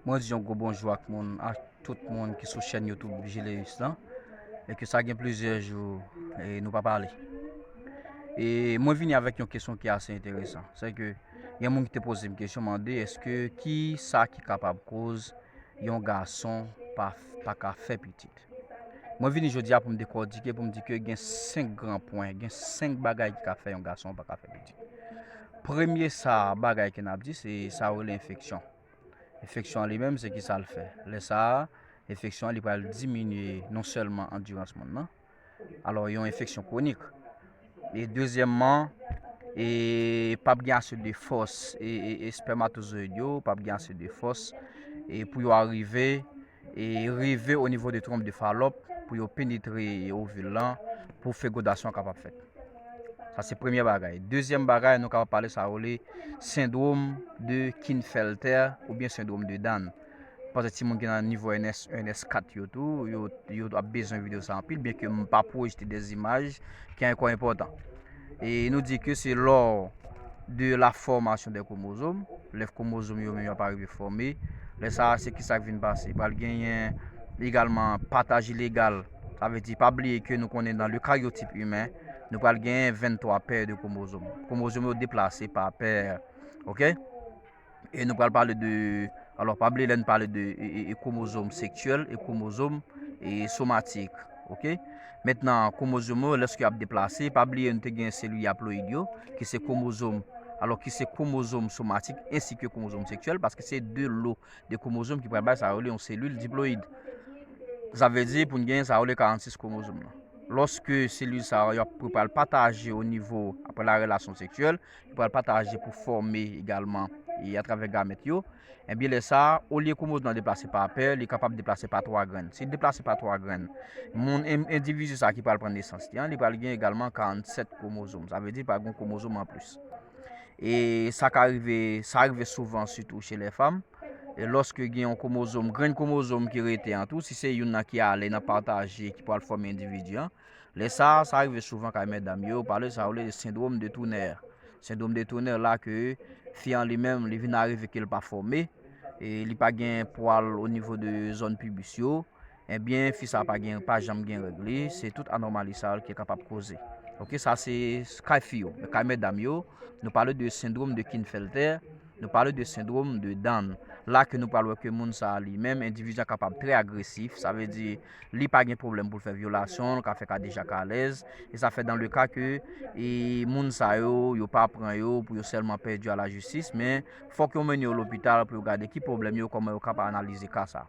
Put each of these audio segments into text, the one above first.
Mwen di yon gwo bonjou ak moun ak tout moun ki sou chèn YouTube Gélius lan e ke sa gen plizyè jou e nou pa pale. E mwen vini avèk yon kesyon ki ase enteresan, se ke gen moun ki te poze m kesyon mande eske ki sa ki kapab koz yon gason pa ka fè pitit. Mwen vini jodi a pou m dekòtike, pou m di ke gen 5 gran pwen, gen 5 bagay ki ka fè yon gason pa ka fè pitit. Premye sa bagay ke n ap di, se sa yo rele enfeksyon. Enfeksyon an li menm, se ki sa l fè? Lè sa a, enfeksyon an li pral diminye non sèlman andirans moun nan, alò yon enfeksyon kwonik. E dezyèmman, e pa p gen ase de fòs, espèmatozoyid yo pa p gen ase de fòs pou yo arive. e rive o nivo de tronp de falòp pou yo penetre ovil lan pou fegodasyon kapab fèt. Sa se premye bagay. Dezyèm bagay, nou kapab pale sa rele sendrom de Kinfelter ou byen sendrom de Dan. Pase ti moun ki nan nivo NS, NS4 yo tou, yo ap bezwen video sa anpil, byen ke m pa pwojte de zimaj ki anko enpotan. E nou di ke se lò de la fòmasyon de kwomozom, lè kwomozom yo menm yo ap arive fòme, lè sa a se ki sa k vin pase? Pral genyen egalman pataj ilegal, sa vle di pa bliye ke nou konnen nan le karyotip imen, nou pral genyen 23 pè de kwomozom. Kwomozom yo deplase pa pè, ok? E nou pral pale de, alò pa bliye lè n pale de kromozom seksyèl e kromozom somatik ok. Mentnan kromozom yo lèske yap deplase pa bliye nou te gen selil yaployid yo ki se kromozom alò ki se kromozom somatik ensi ke kromozom seksyèl paske se 2 lo de kromozom ki pral bay sa yo rele yon selil diployid. Sa vle di pou n gen sa yo rele 46 kromozom nan. Lòske selil sa yo ap pral pataje o nivo apre la relasyon seksyèl pral pataje pou fòme egalman e atravè gamèt yo, enbyen lè sa a, olye kwomozom nan deplase pa pè, li kapab deplase pa twa grenn. Si li deplase pa twa grenn, moun, endividi sa a ki pral pran nesans li an, li pral gen egalman 47 kwomozom. Sa vle di li pral gen yon kwomozom anplis. E sa ka rive, sa rive souvan sitou che lè fanm, e lòske gen yon kwomozom, grenn kwomozom ki rete an tou, si se youn nan ki ale nan pataje ki pral fòme endividi an, Lè sa a, sa rive souvan kay medam yo, pale sa yo rele sendrom de tounè. Sendrom de tounè la ke fi an li menm li vin arive ke l pa fòme, e li pa gen pwal o nivo de zòn pibis yo, ebyen fi sa pa gen pa janm gen règ li, se tout anòmali sa yo ki kapab koze. Ok sa se kay fi yo. Men kay medam yo, nou pale de sendrom de Kinfelter, nou pale de sendrom de Down. La ke nou pral wè ke moun sa a li menm endividi a kapab trè agresif, sa vle di li pa gen pwoblèm pou l fè vyolasyon, l ka fè kadejak alèz, e sa fè dan le ka ke moun sa yo, yo pa pran yo pou yo sèlman pèdi a la jistis, men fòk yo mennen yo lopital pou yo gade ki pwoblèm yo, kòman yo kab analize ka sa.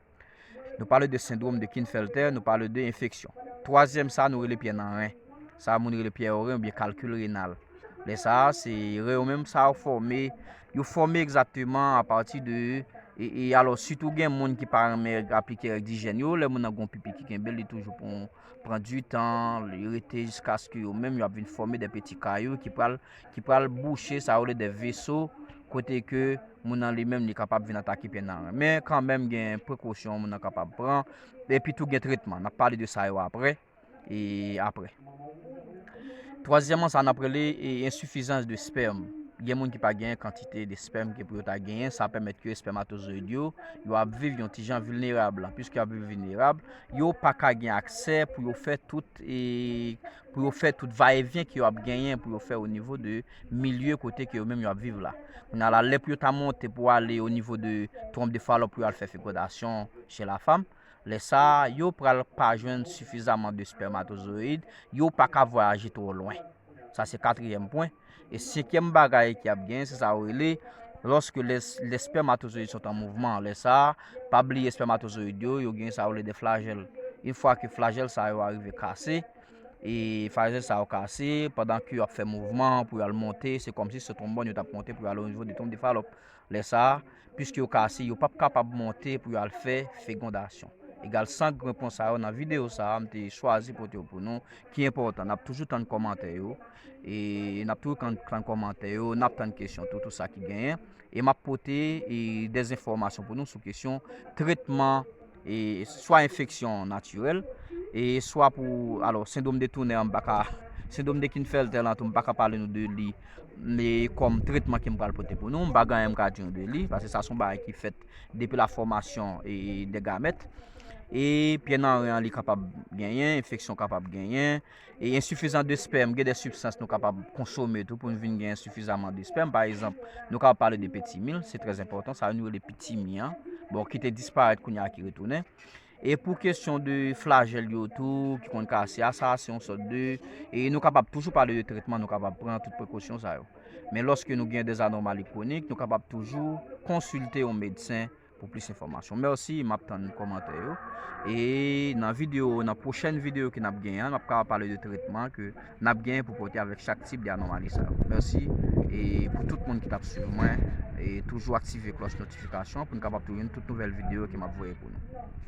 Nou pale de sendwom de Kinfelter, nou pale de enfeksyon. Twazyèm sa nou rele pyè nan ren. Sa moun rele pyè o ren oubyen kalkil renal. Lè sa a, se ren yo menm sa yo fòme. Yo fòme egzakteman apati de e alò sitou gen moun ki pa renmen aplike règ dijèn yo, lè moun nan gon pipi ki kenbe l li toujou pou pran di tan, li rete jiskaske yo menm yo ap vin fòme de peti kayou ki pral ki pral bouche sa yo rele de veso kote ke moun nan li menm li kapab vin atake pye nèg la men kanmenm gen prekosyon moun nan kapab pran epitou gen tretman, n ap pale de sa yo aprè. e apre. Twazyèman sa nap rele e ensifizans de spèm, gen moun ki pa genyen kantite de spèm ke pou yo ta genyen, sa pèmèt ke espèmatozoyid yo, yo ap viv yon ti jan vilnerab, pwiske yo ap viv vilnerab, yo pa ka gen aksè pou yo fè tout e, pou yo fè tout va e vyen ke yo ap genyen pou yo fè o nivo de milye kote ke yo menm yo ap viv la. Kounye a la, lè pou yo ta monte pou ale o nivo de twonp de falòp pou yo al fè fekodasyon che la fam, Lè sa a, yo pral pa jwenn sifizaman de spèmatozoyid, yo pa ka vwayaje twò lwen. Sa se katriyèm pwen. E senkyèm bagay ki ap genyen, se sa yo rele, lòske lè spèmatozoyid sot an mouvman. Lè sa a, pa bliye spèmatozoyid yo, yo genyen sa yo rele de flajèl. Yn fwa ke flajèl sa yo arive kase, e flajèl sa yo kase, pandan ke yo ap fè mouvman pou yo al monte, se kòmsi se twonbòn yo t ap monte pou yo ale onivo de twonb de Falòp. Lè sa a, piske yo kase, yo p ap kapab monte pou yo al fè fegondasyon. Egal 5 repons sa yo nan videyo sa a m te chwazi pote yo pou nou ki enpòtan. N ap toujou tann kòmantè yo, e n ap toujou tann kòmantè yo, n ap tann kesyon tou, tou sa ki genyen. E m ap pote dèzinfòmasyon pou nou sou kesyon tretman. e swa enfeksyon natirèl e swa pou alò sendwom de tounè an m paka sendwom de kinfèltè lan tou m paka pale nou de li e kòm tretman ke m pral pote pou nou m pa gen anyen m ka di nou de li paske sa son bagay ki fèt depi la fòmasyon e de gamèt e pyè nan ren an li kapab genyen enfeksyon kapab genyen E ensifizan de spèm, gen de sibstans nou kapab konsome tou pou nou vin gen ensifizaman de spèm. Pa egzanp, nou kapab pale de petimil, se trèz enpòtan, sa yo nou rele pitimi an, bon, ki te disparèt kounye a ki retounen. E pou kesyon de flajèl yo tou, ki konn kase a, sa a se yon sòt de, e nou kapab toujou pale de tretman, nou kapab pran tout prekosyon sa yo. Men lòske nou gen de zanòmali kwonik, nou kapab toujou konsilte yon medsen, pou plis enfòmasyon merci map tann kòmantè yo e nan video nan pwochèn video ke nap gen an nap ka pale de tretman ke nap gen pou pote avèk chak tip de anomali sa yo merci e pou tout moun ki tap swiv mwen e toujou aktive klòch notifikasyon pou nou kapab toujou gen tout nouvèl video ke map voye pou nou.